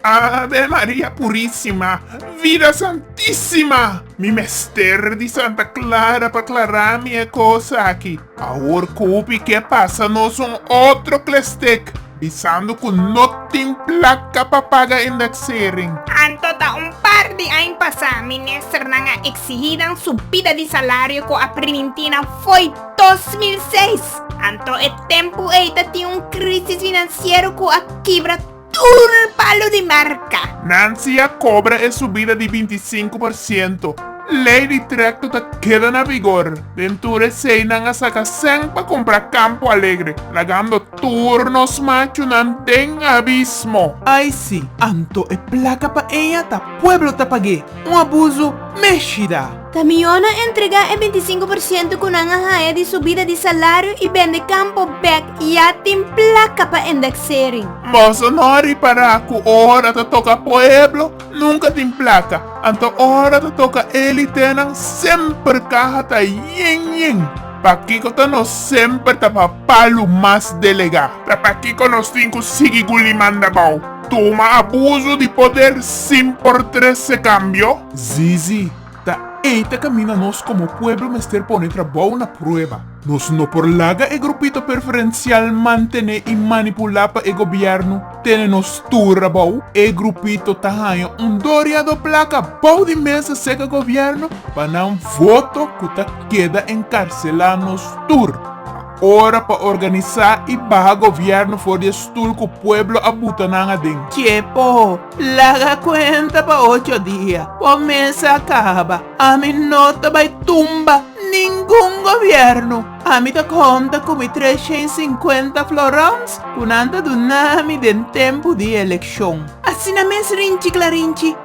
Ave Maria Purisima, Vida Santisima! Mi mester di Santa Clara pa clara mi e cos aki. Awor cupi cu e pasa nos un otro clestek, bisando cu no tin placa pa paga indexering. Anto ta un par di ain pasa, ministernan a exigi nan subida di salario cu a priminti nan fo'i. 2006, anto e tempu ei ta tin un krisis finansiero ku a kibra tur palu di marka. Nancy a kobra e subida di binti sinku por siento. Lei di trekto ta keda na bigor. Den tur esei nan a saka sèn pa kompra Campo Alegre, lagando tur nos machunan den abismo. Ai si, anto e plaka pa eña ta pueblo ta pag'é. Un abuso, mèshida! Kamionnan entregá e binti sinku por siento ku nan a haña di subida di salario i bende kampo bèk ya tin plaka pa endeksering. Boso no ripará ku ora ta toka pueblo nunka tin plaka, anto ora ta toka élitenan semper kaha ta yin yin? Pakiko ta nos semper ta pa palu mas delegá? Ta pakiko nos tin ku sigui guli mandabou? Tuma abuso di poder sin por trece cambio? Zizi, ta ey ta camina nos como pueblo mester pone trabou na prueba. Nos no por laga e grupito perferencial mantene y manipula pa e gobierno tene nos tur abou. E grupito ta haya un doria do placa bou di mesa seca gobierno pa nan voto cu ta keda encarcela nos tur. Ora pa organisa y baha gobierno for di e stul cu pueblo a buta nan aden. Che po laga cuenta pa ocho dia, po mes a caba, ami no ta bay tumba ningun gobierno. Ami ta conta cu mi tres shen y cincuenta florons cu nan ta dunami den tempo di e eleccion. Asina mes rinchi clarinchi.